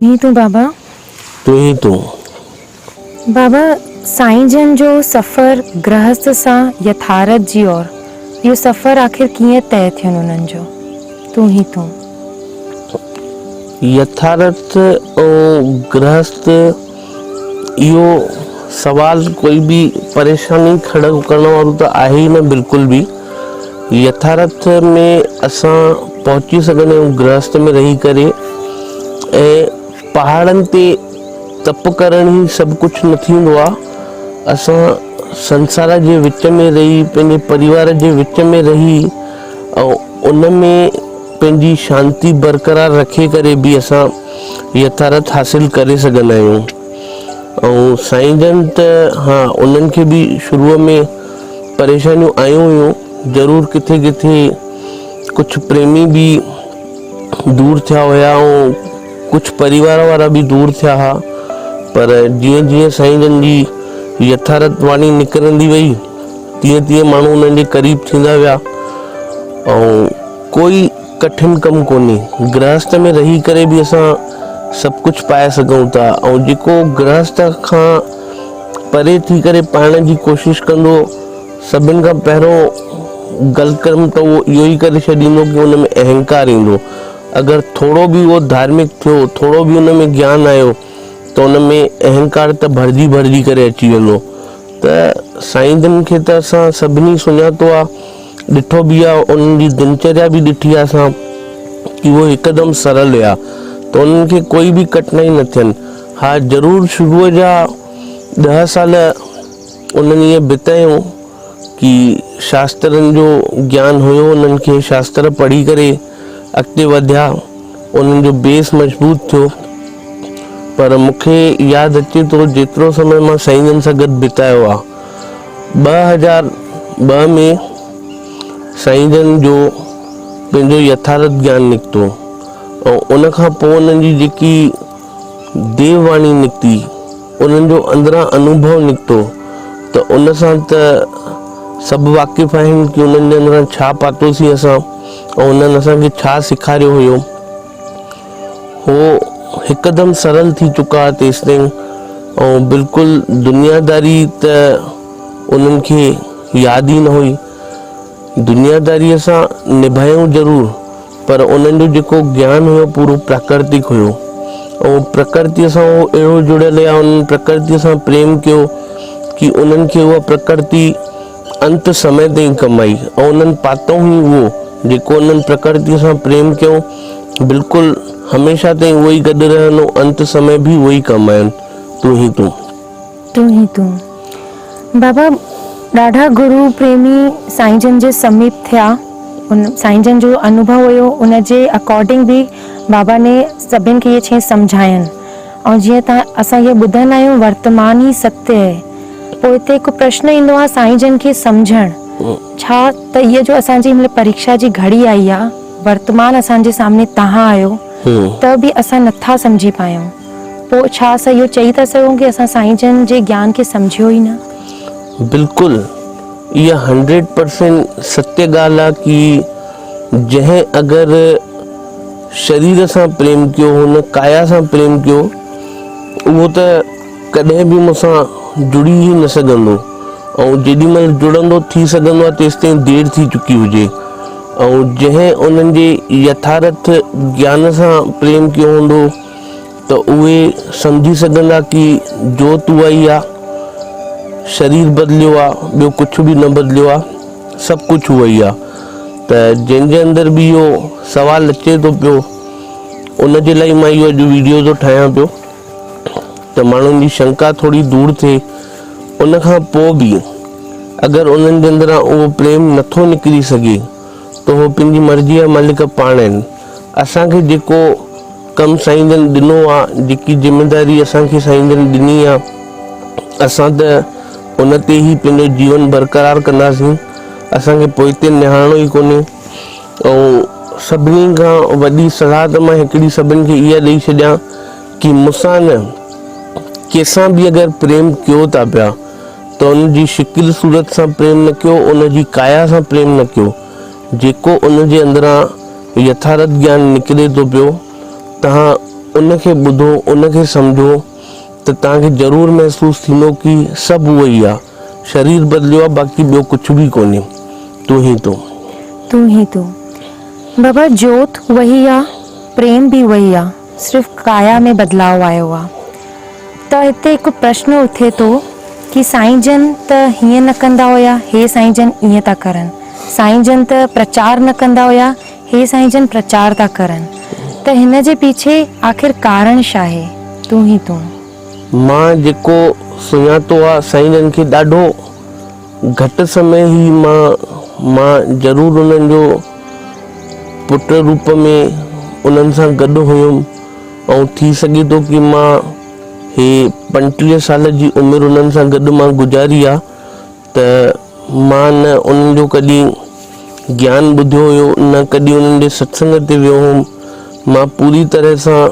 تون ئي تون بابا. تون ئي تون. بابا سائين جن جو سفر گرهست سان يٿارٿ جي اور اهو سفر آخر ڪيئن طئي ٿين انهن جو تون ئي تون. يٿارٿ ۽ گرهست. اهو سوال ڪوئي به پريشاني کڙو ڪرڻ وارو ته آهي ئي نه بلڪل به. يٿارٿ ۾ اسان پهچي سگهندا آهيون گرهست ۾ رهي ڪري ۽ پهاڙن تي تپ ڪرڻ ئي سڀ ڪجهه نه ٿيندو آهي. اسان سنسار جي وچ ۾ رهي پنهنجي پريوار جي وچ ۾ رهي ۽ ان ۾ پنهنجي شانتي برقرار رکي ڪري به اسان يٿارٿ حاصل ڪري سگهندا آهيون ۽ سائين جن ته ها انهن کي به شروع ۾ پريشانيون آيون هيون ضرور ڪٿي ڪٿي ڪجهه پريمي به دور ٿيا هيا ۽ ڪجهه پريوار وارا به دور ٿيا ها پر جيئن جيئن سائين جن جي يٿارت واڻي نڪرندي وئي تيئن تيئن ماڻهو انهن جي قريب ٿيندا ويا ۽ ڪوئي ڪٺن ڪم ڪونهي. گرهسته ۾ رهي ڪري به اسان سڀ ڪجهه پائي سگهون ٿا ۽ جيڪو گرهسته کان پري ٿي ڪري پائڻ جي ڪوشش ڪندو سڀن کان پهريون غلط ڪم ته اهو اهو ئي ڪري ڇڏيندو ڪي ان ۾ اهنڪار ايندو. اگر ٿورو به اهو ڌارمڪ ٿيو، ٿورو به ان ۾ گيان آيو ته ان ۾ اهنڪار ته ڀرجي ڀرجي ڪري اچي ويندو. ته سائين جن کي ته اسان سڀني سڃاتو آهي. ڏٺو به آ انهن جي دنچريا به ڏٺي آ اسان ڪي هو هڪدم سرل هيا ته انهن کي ڪوئي به ڪٺنائي نه ٿين ها ضرور شروع جا ڏهه سال انهن ائين بتايون ڪي شاسترن جو گيان هيو انهن کي شاستر پڙهي ڪري اڳتي وڌيا انهن جو بيس مضبوط ٿيو پر مونکي ياد اچي ٿو جيترو سمي مان سائين جن سان گڏ بتايو آ ٻه هزار ٻه ۾ سائين جن جو پنهنجو يٿارٿ گيان نڪتو ۽ ان کان پوء انهن جي جيڪي ديو واڻي نڪتي انهن جو اندران انوڀو نڪتو ته ان سان ته سڀ واقف آهن ڪي انهن جي اندران ڇا پاتوسين اسان ۽ انهن اسان کي ڇا سيکاريو هيو. هو هڪدم سرل ٿي چڪا ها تيستائين ۽ بلڪل دنياداري ته انهن کي ياد ئي نه هئي. دنياداريء سان نڀايائون ضرور پر انهن جو جيڪو گيان هيو پورو پراڪرتڪ هيو ۽ پرڪرتيء سان هو اهڙو جڙيل يا انهن پرڪرتيء سان پريم ڪيو ڪي انهن کي اها پرڪرتي انت سمي تائين ڪم آئي ۽ انهن پاتئون ئي اهو، جيڪو انهن پرڪرتيء سان پريم ڪيو، بلڪل هميشه تائين اهو ئي گڏ رهندو، انت سمي به اهو ئي ڪم آيون، تون هي تون. تون هي تون. بابا ڏاڍا گرو پريمي سائين جن جي سميپ ٿيا، ان سائين جن جو انوڀو هيو، ان جي اڪارڊنگ به بابا ني سڀن کي اهي ڇهين سمجهاين. ۽ جيئن ته اسان اهو ٻڌندا آهيون ورتمان ئي ستيء اهي، پوء هتي هڪ پرشن ايندو آهي سائين جن کي سمجهڻ، ڇا ته اها جو اسان جي هن مهل پريڪشا جي گهڙي آئي آهي، ورتمان اسان جي سامهون تهان آهيو، ته به اسان نه ٿا سمجهي پايون، پوء ڇا اسان اهو چئي ٿا سگهون ڪي اسان سائين جن جي گيان کي سمجهيو ئي نه؟ بلڪل اها هنڊريڊ پرسينٽ ستيء ڳالهه آهي ڪي جنهن اگر شرير سان پريم ڪيو، هن ڪايا سان پريم ڪيو، اهو ته ڪڏهن به مون سان جڙي ئي نه سگهندو ۽ جيڏي مهل جڙندو ٿي سگهندو آهي تيستائين دير ٿي چڪي هجي ۽ جنهن انهن جي يٿارٿ گيان سان پريم ڪيو هوندو، ته اهي سمجهي سگهندا ڪي جوت اها ئي آ، شرير بدليو آ، ٻيو ڪڇ به نه بدليو آ، سڀ ڪڇ اهو ئي آ. ته جنهن جي اندر به اهو سوال اچي ٿو پيو، ان جي لاء مان اهو اڄ ويڊيو ٿو ٺاهيان پيو ته ماڻهن جي شنڪا ٿوري دور ٿئي. ان کان پوء به اگر انهن جي اندران اهو پريم نه ٿو نڪري سگهي ته اهو پنهنجي مرضيء جا مالڪ پاڻ آهن. اسان کي جيڪو ڪم سائين جن ڏنو آ جيڪي ذميداري اسان کي سائين جن ڏني آ اسان ته ان تي ئي پنهنجو جيون برقرار ڪنداسين اسان کي پوئتي نهارڻو ئي ڪونهي ۽ سڀني کان وڏي صلاح ته مان هڪڙي سڀن کي اها ڏئي ڇڏيان ڪي مونسان نه ڪيسان به اگر پريم ڪيو ٿا پيا ته ان جي شڪل صورت سان پريم نه ڪيو ان جي ڪايا سان پريم نه ڪيو جيڪو ان جي اندران يٿارٿ گيان نڪري ٿو پيو، توهان ان کي ٻڌو، ان کي سمجهو ته توهان کي ضرور محسوس ٿيندو ڪي سڀ اهو ئي آ. شرير بدليو آ باقي ٻيو ڪڇ به ڪونهي. تون هي تو. تون هي تو. بابا جوت اهي ئي آ، پريم به اهو ئي آ. صرف ڪايا ۾ بدلاء آيو آ ته هتي هڪ پرشن اٿي ٿو ڪي سائين جن ته هيئن نه ڪندا هيا هي سائين جن ايئن ٿا ڪرن سائين جن ته پرچار نه ڪندا هيا هي سائين جن پرچار ٿا ڪرن ته هن جي پيڇي آخر ڪارڻ شاهي تون هي تون. مان جيڪو سڃاتو آ سائين جن کي ڏاڍو. گهٽ سمي هي مان مان ضرور انهن جو پٽ روپ ۾ انهن سان گڏ هيم ۽ ٿي سگهي ٿو ڪي مان هي پنٽيهه سال جي عمر انهن سان گڏ مان گذاري آ ته مان نه انهن جو ڪڏهن گيان ٻڌيو هيو نه ڪڏهن انهن جي ستسنگ تي ويو هيم مان پوري طرح سان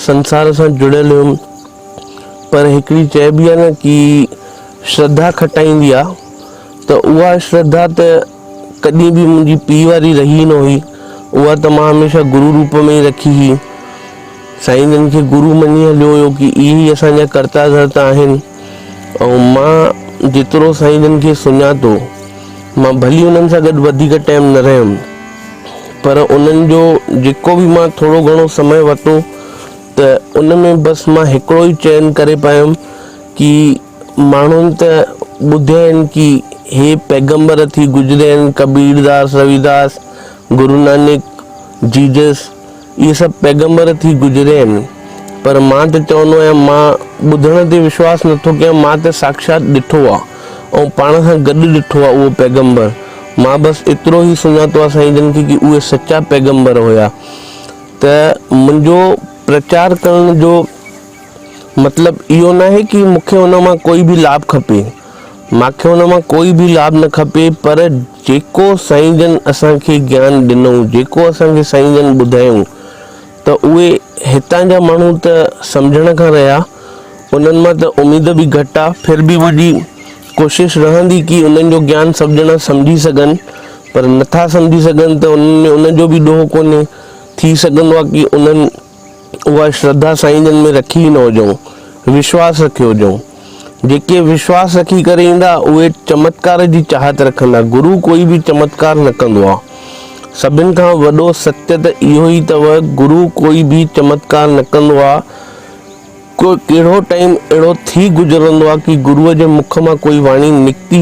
سنسار سان جڙيل هيم پر هڪڙي چئبي آهي نه ڪي شرڌا کٽائيندي آ ته اها شرڌا ته ڪڏهن به منهنجي پيء واري رهي نه هئي اها ته مان هميشه گرو روپ ۾ ئي رکي هئي سائين جن کي گرو مڃي هليو هيو ڪي اهي ئي اسان جا ڪرتا ڌرتا آهن ۽ مان جيترو سائين جن کي سڃان ٿو مان ڀلي انهن سان گڏ وڌيڪ ٽائم نه رهيم پر انهن جو جيڪو به مان ٿورو گهڻو سمي ورتو ته ان ۾ بس مان هڪڙو ئي چئن ڪري پيم ڪي ماڻهن ته ٻڌي آهن ڪي هي پيغمبر ٿي گذري آهن ڪبير داس روي داس گرو نانڪ جيجس اهي سڀ پيغمبر ٿي گذري آهن پر مان ته چوندو آهيان مان ٻڌڻ تي وشواس نٿو ڪيان مان ته ساکشات ڏٺو آ ۽ پاڻ سان گڏ ڏٺو آ اهو پيغمبر مان بس ايترو ئي سڃاتو آ سائين جن کي ڪي اهي سچا پيغمبر هيا. ته منهنجو پرچار ڪرڻ جو مطلب اهو ناهي ڪي مون کي ان مان ڪوئي به لاڀ کپي، مان کي ان مان ڪوئي به لاڀ نه کپي پر جيڪو سائين جن اسان کي گيان ڏنئون جيڪو اسان کي سائين جن ٻڌايئون ته اهي هتان جا ماڻهو ته سمجهڻ کان رهيا انهن مان ته اميد به گهٽ آ ڦر به منهنجي ڪوشش رهندي ڪي انهن جو گيان سڀ ڄڻا سمجهي سگهن پر نٿا سمجهي سگهن ته انهن ۾ ان جو به ڏوهه ڪونهي. ٿي سگهندو آهي ڪي انهن اها شرڌا سائين جن ۾ رکي ئي نه هجئون، وشواس رکيو هجئون. جيڪي وشواس رکي ڪري ايندا اهي چمتڪار جي چاهت رکندا، گرو ڪوئي به چمتڪار نه ڪندو آهي. سڀن کان وڏو ستيء ته اهو ئي اٿو گرو ڪوئي به چمتڪار نه ڪندو آهي. ڪو ڪهڙو ٽائيم اهڙو ٿي گذرندو آهي ڪي گروء جي مک مان ڪوئي واڻي نڪتي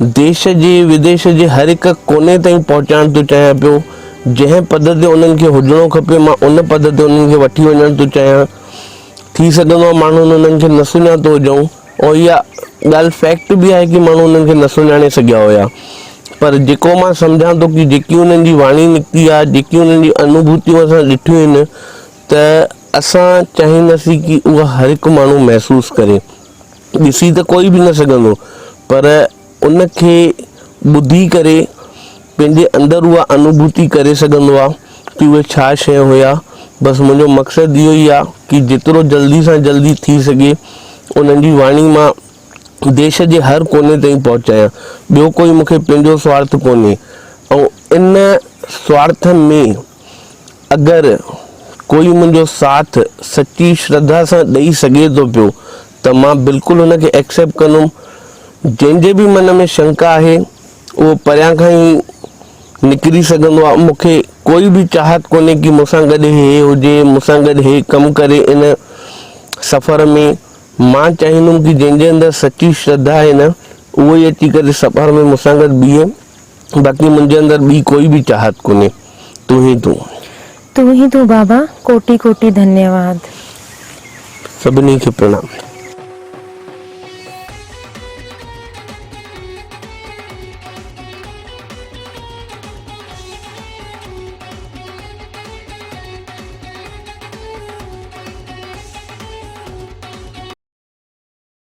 ديش جي وديش جي هر هڪ ڪوني تائين پهچائڻ ٿو چاهيان پيو، جنهن پد تي انهن کي هجڻو کپي مان ان پد تي انهن کي وٺي وڃڻ ٿو چاهيان، ٿي سگهندو آهي ماڻهن انهن کي نه سڃاتو هجئون ۽ اها ڳالهه فيڪٽ به آهي ڪي ماڻهو انهن کي نه سڃاڻي سگهيا هيا پر جيڪو مان سمجهان ٿو ڪي جيڪي انهن جي واڻي نڪتي آهي جيڪي انهن جي انوڀوتيون اسان ڏٺيون آهن ته اسان چاهينداسين ڪي اها هر هڪ ماڻهو محسوس ڪري. ڏسي ته ڪوئي به نه سگهندو پر ان کي ٻڌي ڪري پنهنجي اندر اها انوڀوتي ڪري سگهندو آ ڪي اهي ڇا شي هيا بس منهنجو مقصد اهو ئي آ ڪي جيترو جلدي سان جلدي ٿي سگهي انهن جي واڻي مان ديش جي هر ڪوني تائين پهچايان ٻيو ڪوئي مونکي پنهنجو سوارٿ ڪونهي ۽ ان سوارٿ ۾ اگر ڪوئي منهنجو ساٿ سچي شرڌا سان ڏئي سگهي ٿو پيو ته مان بلڪل ان کي ايڪسيپٽ ڪندم. جنهن جي به من ۾ شنڪا آهي اهو پريان کان ئي نڪري سگهندو آهي. مون کي ڪوئي به چاهت ڪونهي ڪي مون سان گڏ هي هجي، مون سان گڏ هي ڪم ڪري ان سفر ۾. مان چاهيندم ڪي جنهن جي اندر سچي شرڌا آهي نه اهو ئي اچي ڪري سفر ۾ مون سان گڏ بيهي. باقي منهنجي اندر ٻي ڪوئي به چاهت ڪونهي، تون ئي تون. تون ئي تون بابا، ڪوٽي ڪوٽي ڌنيواد. سڀني کي پرڻام.